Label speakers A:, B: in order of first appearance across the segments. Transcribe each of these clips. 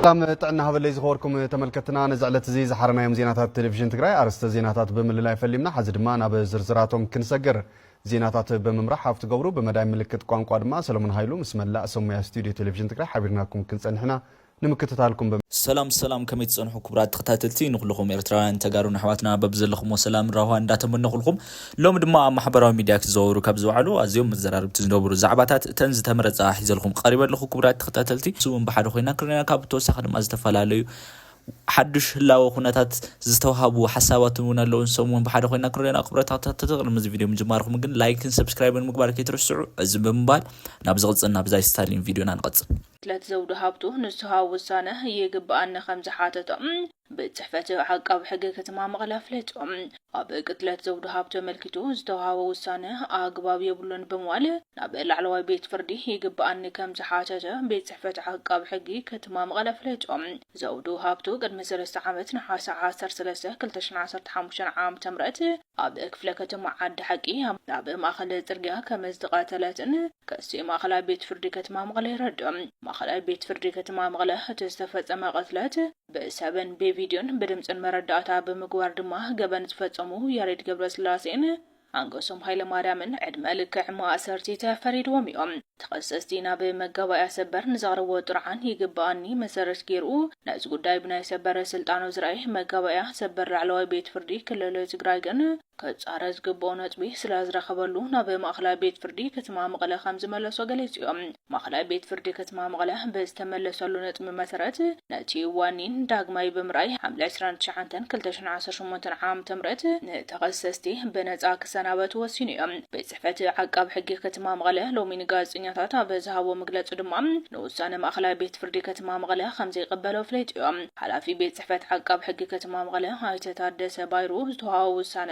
A: ሰላም ጥዕና ሃበለይ ዝኸበርኩም ተመልከትና ነዚ ዕለት እዚ ዝሓረናዮም ዜናታት ቴሌቭዥን ትግራይ ኣርስተ ዜናታት ብምልላይ ፈሊምና ሓዚ ድማ ናብ ዝርዝራቶም ክንሰግር ዜናታት ብምምራሕ ሃብቲ ገብሩ ብመዳይ ምልክት ቋንቋ ድማ ሰለሙን ሃይሉ ምስ መላእ ሰሙያ ስቱድዮ ቴሌቭዥን ትግራይ ሓቢርናኩም ክንፀንሕና ንምክትታልኩም በ። ሰላም ሰላም
B: ከመይ ትጸንሑ ክቡራት ተኸታተልቲ ንኹሉኹም ኤርትራውያን ተጋሩን ኣሕዋትና በብዘለኹሞ ሰላምን ራህዋን እንዳተመነኹልኩም ሎሚ ድማ ኣብ ማሕበራዊ ሚድያ ክዘዋወሩ ካብ ዝውዓሉ ኣዝዮም መዘራርብቲ ዝነበሩ ዛዕባታት እተን ዝተመረጻ ሒዘልኹም ቐሪበ ኣለኹ ክቡራት ተኸታተልቲ ንሱ እውን ብሓደ ኮይና ክንሪኣ ካብ ብተወሳኺ ድማ ዝተፈላለዩ ሓዱሽ ህላወ ኩነታት ዝተውሃቡ ሓሳባትን እውን ኣለዉ ንሶም እውን ብሓደ ኮይና ክንሪኣና ክቡራት ተኸታተልቲ ቅድሚ እዚ ቪድዮ ምጅማርኹም ግን ላይክን ሰብስክራይብን ምግባር ከይትርስዑ እዚ ብምባል ናብ ዝቕጽል ናብዛ ስታሊን ቪድዮና ንቐጽል ቅትለት ዘውዱ ሃብቱ
C: ንስሃዊ ውሳነ ይግበኣኒ ከምዝሓተቶ ቤት ፅሕፈት ዓቃቢ ሕጊ ከተማ መቐለ ኣፍሊጡ። ኣብ ቅትለት ዘውዱ ሃብቱ ኣመልኪቱ ዝተውሃቦ ውሳነ ኣግባብ የብሉን ብምባል ናብ ላዕለዋይ ቤት ፍርዲ ይግበኣኒ ከምዝሓተተ ቤት ፅሕፈት ዓቃቢ ሕጊ ከተማ መቐለ ኣፍሊጡ። ዘውዱ ሃብቱ ቅድሚ ሰለስተ ዓመት ነሓሰ ዓሰርተ ሰለስተ ክልተ ሽሕን ዓሰርተ ሓሙሽተን ዓመተ ምህረት ኣብ ክፍለ ከተማ ዓዲ ሓቂ ኣብ ማእኸል ፅርግያ ከም ዝተቐተለትን ክሲ ማእኸላይ ቤት ፍርዲ ከተማ መቐለ የረድእ። ማእኸላይ ቤት ፍርዲ ከተማ መቐለ እቲ ዝተፈፀመ ቅትለት ብሰብን ብቪድዮን ብድምፅን መረዳእታ ብምግባር ድማ ገበን ዝፈፀሙ ያሬድ ገብረስላሴን ኣንገሶም ሃይለማርያምን ዕድመ ልክዕ ማእሰርቲ ተፈሪድዎም እዮም። ተኸሰስቲ ናብ መጋባእያ ሰበር ንዘቕረብዎ ጥርዓን ይግበኣኒ መሰረት ገይሩ ነዚ ጉዳይ ብናይ ሰበር ስልጣኑ ዝረኣየ መጋባእያ ሰበር ላዕለዋይ ቤት ፍርዲ ክልል ትግራይ ግን ክፃረ ዝግበኦ ነጥቢ ስለዝረኸበሉ ናብ ማእኸላይ ቤት ፍርዲ ከተማ መቐለ ከምዝመለሶ ገሊፁ ዩ። ማእኸላይ ቤት ፍርዲ ከተማ መቐለ ብዝተመለሰሉ ነጥቢ መሰረት ነቲ ዋኒን ዳግማይ ብምርኣይ ሓምለ ዕስራን ትሽዓንተን ክልተ ሽሕን ዓሰርተ ሸሞንተን ዓመተ ምህረት ንተኸሰስቲ ብነፃ ክሰናበቱ ወሲኑ ዩ። ጽሕፈት ዓቃቢ ሕጊ ከተማ መቐለ ሎሚ ንጋዜጠኛታት ኣብ ዝሃቦ መግለጺ ድማ ንውሳነ ማእኸላይ ቤት ፍርዲ ከተማ መቐለ ከምዘይቕበሎ ኣፍሊጡዮ። ሓላፊ ቤት ጽሕፈት ዓቃቢ ሕጊ ከተማ መቐለ ኣይተ ታደሰ ባይሩ ዝተውሃቦ ውሳነ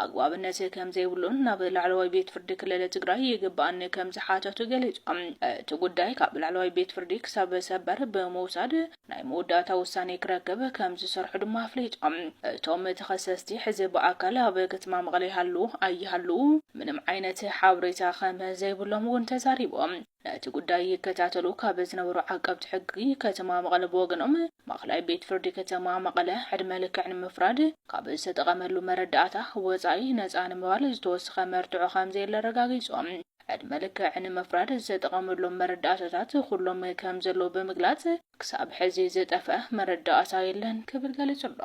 C: ኣግባብነት ከምዘይብሉን ናብ ላዕለዋይ ቤት ፍርዲ ክልል ትግራይ ይግባኣኒ ከምዝሓተቱ ገሊፆም። እቲ ጉዳይ ካብ ላዕለዋይ ቤት ፍርዲ ክሳብ ሰበር ብምውሳድ ናይ መወዳእታ ውሳኔ ክረክብ ከም ዝሰርሑ ድማ ኣፍሊጦም። እቶም ተኸሰስቲ ሕዚ ብኣካል ኣብ ከተማ መቐለ ይሃልዉ ኣይሃልዉ ምንም ዓይነት ሓበሬታ ከም ዘይብሎም እውን ተዛሪቦም። ነቲ ጉዳይ ይከታተሉ ካብ ዝነበሩ ዓቀብቲ ሕጊ ከተማ መቐለ ብወገኖም፣ ማእኸላይ ቤት ፍርዲ ከተማ መቐለ ዕድመ ልክዕ ንምፍራድ ካብ ዝተጠቐመሉ መረዳእታ ወፃኢ ነፃ ንምባል ዝተወሰኸ መርትዖ ከም ዘየለ ኣረጋጊፆም። ዕድመ ልክዕ ንምፍራድ ዝተጠቐመሎም መረዳእታታት ኩሎም ከም ዘለዉ ብምግላጽ፣ ክሳብ ሕዚ ዝጠፍኣ መረዳእታ የለን ክብል ገሊጹ'ሎ።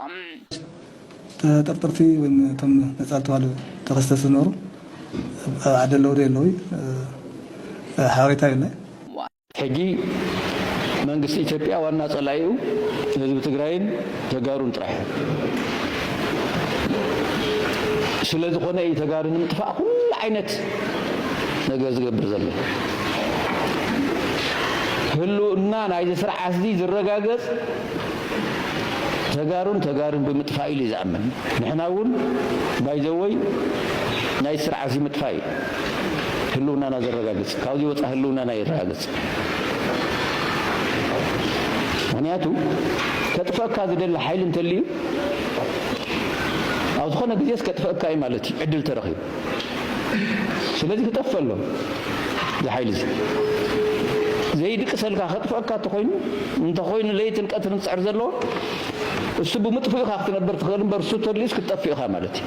D: ተጠርጠርቲ ወይም እቶም ነጻ ዝተባህሉ ተኸሰስቲ ዝነበሩ ኣብ ዓዲ ኣለዉ ዶ የለዉይ ሓበሬታ የለን። ሕጂ
E: መንግስቲ ኢትዮጵያ ዋና ጸላኢኡ ህዝቢ ትግራይን ተጋሩን ጥራሕ እዮም። ስለዝኾነ እዩ ተጋሩ ንምጥፋእ ኩሉ ዓይነት ነገር ዝገብር ዘሎ። ህልውና ናይዚ ስርዓትዚ ዝረጋገጽ ተጋሩን ተጋሩን ብምጥፋእ ኢሉ እዩ ዝኣምን። ንሕና እውን ባይዘወይ ናይ ስርዓትዚ ምጥፋእ እዩ። ህልውናና ዘረጋግፅ ካብዙይ ወፃኢ ህልውናና የረጋግፅ ምክንያቱ ከጥፈእካ ዝደሊ ሓይሊ እንተልዩ ኣብ ዝኾነ ግዜስ ከጥፈእካ እዩ ማለት እዩ ዕድል ተረኺቡ ስለዚ ክጠፍእ ኣሎ እዚ ሓይሊ እዚ ዘይድቅሰልካ ከጥፈእካ እንተኾይኑ እንተኾይኑ ለይትን ቀትርን ዝፅዕር ዘለዎ እሱ ብምጥፍኡ ኢኻ ክትነብር ትኽእል እምበር እሱ ተድልዩስ ክትጠፍእ ኢኻ ማለት እዩ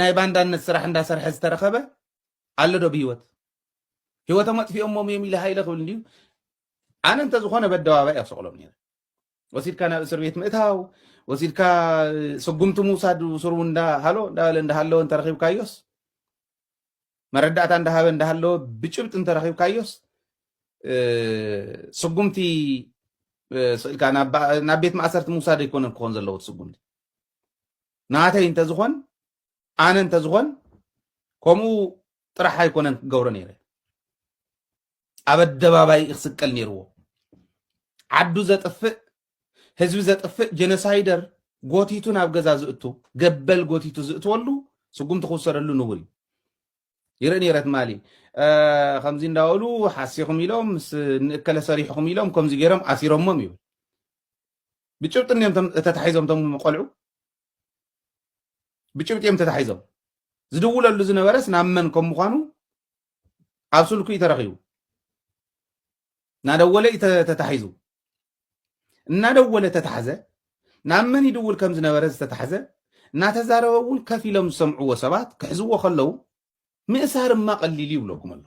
F: ናይ ባንዳነት ስራሕ እንዳሰርሐ ዝተረኸበ ኣሎ ዶ ብሂወት ሂወቶም ኣጥፊኦሞም እዮም ኢለ ሃይለ ክብል እንድዩ ኣነ እንተዝኾነ በደባባይ ኣብ ሰቕሎም ነይረ ወሲድካ ናብ እስር ቤት ምእታው ወሲድካ ስጉምቲ ምውሳድ ስሩ እንዳሃሎ እንዳበለ እንዳሃለወ እንተረኺብካዮስ መረዳእታ እንዳሃበ እንዳሃለወ ብጭብጢ እንተረኺብካዮስ ስጉምቲ ስእልካ ናብ ቤት ማእሰርቲ ምውሳድ ኣይኮነን ክኾን ዘለዎ ስጉምቲ ናተይ እንተዝኾን ኣነ እንተዝኾን ከምኡ ጥራሕ ኣይኮነን ክገብሮ ነይረ ኣብ ኣደባባይ ክስቀል ነይርዎ ዓዱ ዘጥፍእ ህዝቢ ዘጥፍእ ጀኖሳይደር ጎቲቱ ናብ ገዛ ዝእቱ ገበል ጎቲቱ ዝእትወሉ ስጉምቲ ክውሰደሉ ንቡር እዩ ይርኢ ነይረ ትማሊ ከምዚ እንዳበሉ ሓሲኹም ኢሎም ምስ ንእከለ ሰሪሕኹም ኢሎም ከምዚ ገይሮም ኣሲሮሞም ይብል ብጭብጢ እንዲዮም ተታሒዞም እቶም ቆልዑ ብጭብጢ እዮም ተታሒዞም ዝድውለሉ ዝነበረስ ናብ መን ከም ምኳኑ ኣብ ስልኩ እዩ ተረኪቡ እናደወለ እዩ ተታሒዙ እናደወለ ተታሕዘ ናብ መን ይድውል ከም ዝነበረ ዝተታሕዘ እናተዛረበ እውን ከፍ ኢሎም ዝሰምዕዎ ሰባት ክሕዝዎ ከለዉ ምእሳር እማ ቀሊል ይብለኩም ኣሎ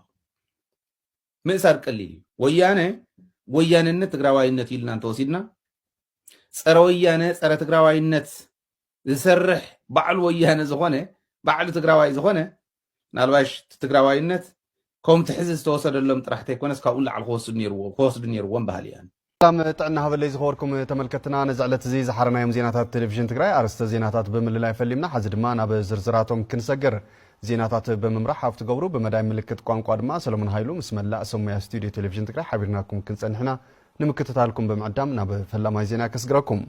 F: ምእሳር ቀሊል እዩ። ወያነ ወያነነት ትግራዋይነት ኢልና እንተወሲድና ፀረ ወያነ ፀረ ትግራዋይነት ዝሰርሕ ባዕሉ ወያነ ዝኾነ ባዕሉ ትግራዋይ ዝኾነ ናልባሽ ትግራዋይነት ከምቲ ሕዚ ዝተወሰደሎም ጥራሕ ተይኮነስ ካብኡ ንላዕሊ ክወስዱ ነይርዎም በሃሊ እያን። ሰላም ጥዕና ሃበለይ
A: ዝኸበርኩም ተመልከትና ነዚ ዕለት እዚ ዝሓረናዮም ዜናታት ቴሌቪዥን ትግራይ ኣርስተ ዜናታት ብምልላይ ፈሊምና ሓዚ ድማ ናብ ዝርዝራቶም ክንሰግር ዜናታት ብምምራሕ ሃፍቲ ገብሩ ብመዳይ ምልክት ቋንቋ ድማ ሰለሞን ሃይሉ ምስ መላእ ሰሙያ ስቱድዮ ቴሌቪዥን ትግራይ ሓቢርናኩም ክንፀንሕና ንምክትታልኩም ብምዕዳም ናብ ፈላማይ ዜና ከስግረኩም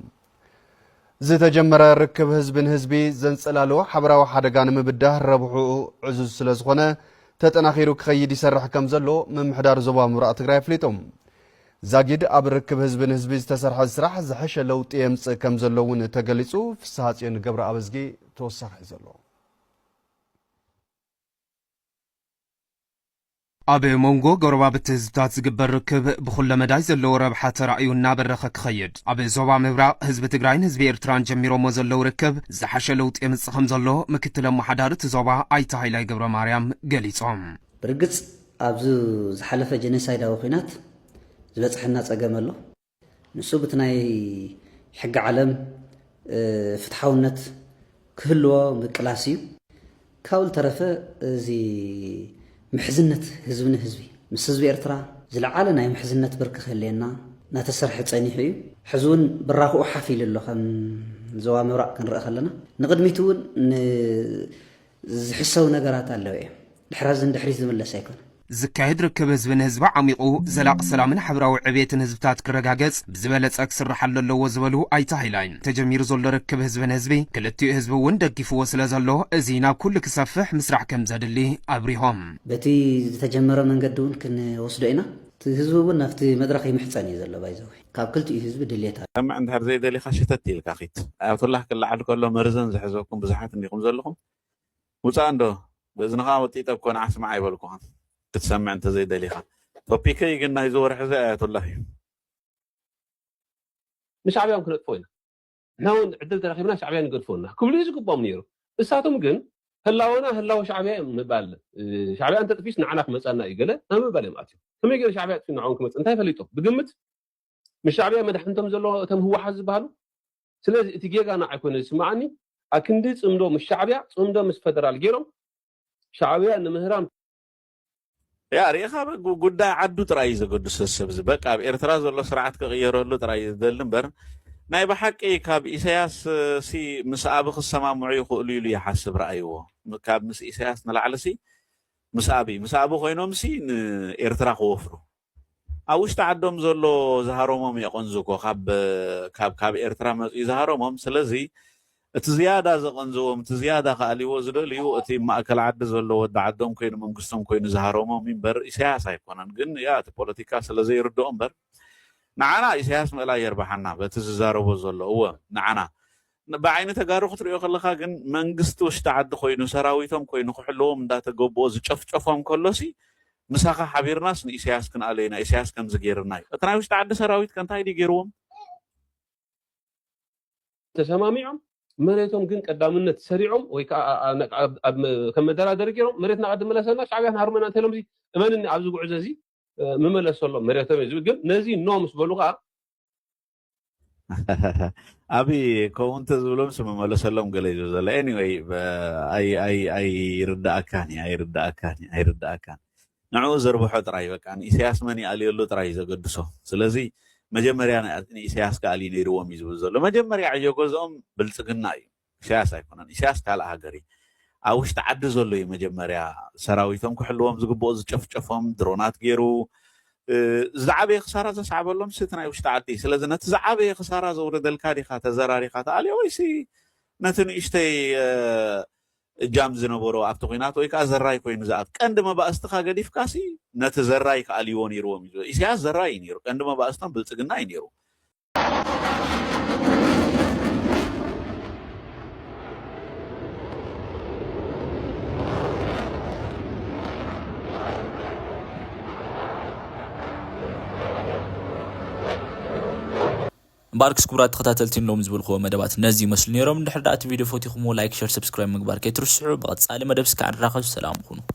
A: ዝተጀመረ ርክብ ህዝቢ ንህዝቢ ዘንጸላሉ ሓበራዊ ሓደጋ ንምብዳህ ረብሕኡ ዕዙዝ ስለ ዝኾነ ተጠናኺሩ ክኸይድ ይሰርሕ ከም ዘሎ ምምሕዳር ዞባ ምብራቕ ትግራይ ኣፍሊጡ። ዛጊድ ኣብ ርክብ ህዝቢ ንህዝቢ ዝተሰርሐ ስራሕ ዝሐሸ ለውጢ የምጽእ ከም ዘሎ እውን ተገሊጹ። ፍስሓጽዮን ገብረኣብዝጊ ተወሳኺ ዘሎ
G: ኣብ ሞንጎ ጎረባብቲ ህዝብታት ዝግበር ርክብ ብኹለ መዳይ ዘለዎ ረብሓ ተራእዩ እናበረኸ ክኸይድ ኣብ ዞባ ምብራቕ ህዝቢ ትግራይን ህዝቢ ኤርትራን ጀሚሮሞ ዘለው ርክብ ዝሓሸ ለውጢ የምፅእ ከምዘሎ ምክትል ኣመሓዳሪ እቲ ዞባ ኣይተ ሃይላይ ገብረማርያም ገሊፆም። ብርግፅ
H: ኣብዚ ዝሓለፈ ጀኖሳይዳዊ ኹናት ዝበፅሐና ፀገም ኣሎ። ንሱ ብቲ ናይ ሕጊ ዓለም ፍትሓውነት ክህልዎ ምቅላስ እዩ። ካብኡ ዝተረፈ እዚ ምሕዝነት ህዝቢ ንህዝቢ ምስ ህዝቢ ኤርትራ ዝለዓለ ናይ ምሕዝነት ብርኪ ክህልየና እናተሰርሐ ጸኒሑ እዩ። ሕዚ እውን ብራኽኡ ሓፍ ኢሉ ኣሎ ከም ዞባ ምብራቕ ክንርእ ከለና ንቕድሚት እውን ን ዝሕሰው ነገራት ኣለው እዬም ድሕራ እዚ ንድሕሪት ዝምለስ ኣይኮነን። ዝካየድ ርክብ
G: ህዝቢ ንህዝቢ ዓሚቑ ዘላቒ ሰላምን ሓብራዊ ዕብየትን ህዝብታት ክረጋገፅ ብዝበለፀ ክስርሓሉ ኣለዎ ዝበሉ ኣይተ ሃይላይ፣ ተጀሚሩ ዘሎ ርክብ ህዝቢ ንህዝቢ ክልቲኡ ህዝቢ እውን ደጊፍዎ ስለዘሎ እዚ ናብ ኩሉ ክሰፍሕ ምስራሕ ከምዘድሊ ኣብሪሆም። በቲ
H: ዝተጀመረ መንገዲ እውን ክንወስዶ ኢና፣ እቲ ህዝቢ እውን ናብቲ መድረኽ ይምሕፀን እዩ ዘሎ ባይዘወይ። ካብ ክልቲኡ ህዝቢ ድሌት ኣሎ። ሰምዕ እንድሕር ዘይደሊኻ
I: ሸተት ኢልካ ኪድ። ኣያቶላህ ክለዓል ከሎ መርዘን ዝሐዘኩም ብዙሓት እንዲኹም ዘለኹም ውጻእ እንዶ ብእዝንኻ ወጢጠ እኮ ንዓ ስማዕ ኣይበልኩኻን ክትሰምዕ እንተዘይ ደሊኻ። ቶፒከይ ግን ናይዚ ወርሒ እዚ ኣያቶላህ እዩ።
J: ንሻዕብያ ውን ክነጥፎ ኢና ንሕና ውን ዕድል ተረኺብና ሻዕብያ ንገድፎና ክብሉ እዩ ዝግብኦም ነይሩ። ንሳቶም ግን ህላወና ህላወ ሻዕብያ እዩ ምባል ሻዕብያ እንተጥፊኡስ ንዓና ክመፅኣና እዩ ገለ ናብ ምባል እዮም ኣትዮም። ከመይ ገይሩ ሻዕብያ ኣጥፊኡ ንዕኦም ክመፅእ እንታይ ፈሊጦም? ብግምት ምስ ሻዕብያ መዳሕንቶም ዘሎ እቶም ህወሓት ዝበሃሉ ስለዚ እቲ ጌጋ ንዓይ ኮይኑ ዝስምዓኒ ኣክንዲ ፅምዶ ምስ ሻዕብያ ፅምዶ ምስ ፈደራል ገይሮም ሻዕብያ ንምህራም
I: ያእ ሪኢኻ በ ጉዳይ ዓዱ ጥራይ እዩ ዘገድሶ እዚ ሰብዚ በቃ ኣብ ኤርትራ ዘሎ ስርዓት ክቕየረሉ ጥራይ እዩ ዝደሊ እምበር ናይ ብሓቂ ካብ ኢሰያስ ሲ ምስ ኣቢ ክሰማምዑ ይኽእሉ ኢሉ ይሓስብ ረኣይዎ ካብ ምስ ኢሰያስ ንላዕሊ ሲ ምስ ኣቢ ምስ ኣቢ ኮይኖም ሲ ንኤርትራ ክወፍሩ ኣብ ውሽጢ ዓዶም ዘሎ ዝሃሮሞም የቐንዙ እኮ ካብ ካብ ካብ ኤርትራ መጽዩ ዝሃሮሞም ስለዚ እቲ ዝያዳ ዘቐንዝዎም እቲ ዝያዳ ክኣልይዎ ዝደልዩ እቲ ማእከል ዓዲ ዘሎ ወዲ ዓዶም ኮይኑ መንግስቶም ኮይኑ ዝሃሮሞም እምበር ኢሳያስ ኣይኮነን ግን ያ እቲ ፖለቲካ ስለ ዘይርድኦ እምበር ንዓና ኢሳያስ ምእላይ የርብሓና በቲ ዝዛረቦ ዘሎ እወ ንዓና ብዓይኒ ተጋሩ ክትሪኦ ከለኻ ግን መንግስቲ ውሽጢ ዓዲ ኮይኑ ሰራዊቶም ኮይኑ ክሕልዎም እንዳተገቦኦ ዝጨፍጨፎም ከሎሲ ምሳኻ ሓቢርናስ ንኢሰያስ ክንኣልዮ ኢና ኢሰያስ ከምዚ ጌርና እዩ እቲ ናይ ውሽጢ ዓዲ ሰራዊት ከ እንታይ ድዩ ጌርዎም?
J: ተሰማሚዖም መሬቶም ግን ቀዳምነት ሰሪዖም ወይ ከኣ ከም መደራደሪ ጌሮም መሬትና ቐዲ ምለሰና ሻዕብያ ክንሃርመና እንተኢሎምሲ እመንኒ ኣብዚ ጉዕዞ እዚ ምመለሰሎም መሬቶም እዩ ግን ነዚ ኖ ምስ በሉ ከኣ
I: ኣቢ ከምኡ እንተዝብሎ ምስ መመለሰሎም ገለ እዩ ዘሎ ኤኒወይ ኣይርዳእካን እዩ ኣይርዳእካን እዩ ኣይርዳእካን ንዕኡ ዘርብሖ ጥራይ በቃ ንኢሳያስ መን ይኣልየሉ ጥራይ እዩ ዘገድሶ ስለዚ መጀመርያ ንኢሳያስ ክኣልዩ ነይርዎም እዩ ዝብል ዘሎ መጀመርያ ዕዮ ገዝኦም ብልፅግና እዩ ኢሳያስ ኣይኮነን ኢሳያስ ካልእ ሃገር እዩ ኣብ ውሽጢ ዓዲ ዘሎ እዩ መጀመርያ ሰራዊቶም ክሕልዎም ዝግብኦ ዝጨፍጨፎም ድሮናት ገይሩ ዝዓበየ ክሳራ ዘስዓበሎም ስቲ ናይ ውሽጢ ዓዲ ስለዚ ነቲ ዝዓበየ ክሳራ ዘውረደልካ ዲኻ ተዘራሪኻ ተኣልዮ ወይሲ ነቲ ንእሽተይ እጃም ዝነበሮ ኣብቲ ኩናት ወይ ከዓ ዘራይ ኮይኑ ዝኣት ቀንዲ መባእስትኻ ገዲፍካሲ ነቲ ዘራይ ክኣልይዎ ነይርዎም እዩ ኢሳያስ ዘራይ እዩ ነይሩ ቀንዲ መባእስቶም ብልፅግና እዩ ነይሩ
B: እምበኣርክስ ክቡራት ተኸታተልቲ ንሎሚ ዝበልክዎ መደባት ነዚ ይመስሉ ነይሮም። እንድሕር ደኣ እቲ ቪድዮ ፈቲኹምዎ ላይክ፣ ሸር፣ ሰብስክራይብ ምግባር ከይትርስዑ። ብቐጻሊ መደብ እስከ ንራኸብ ሰላም ኩኑ።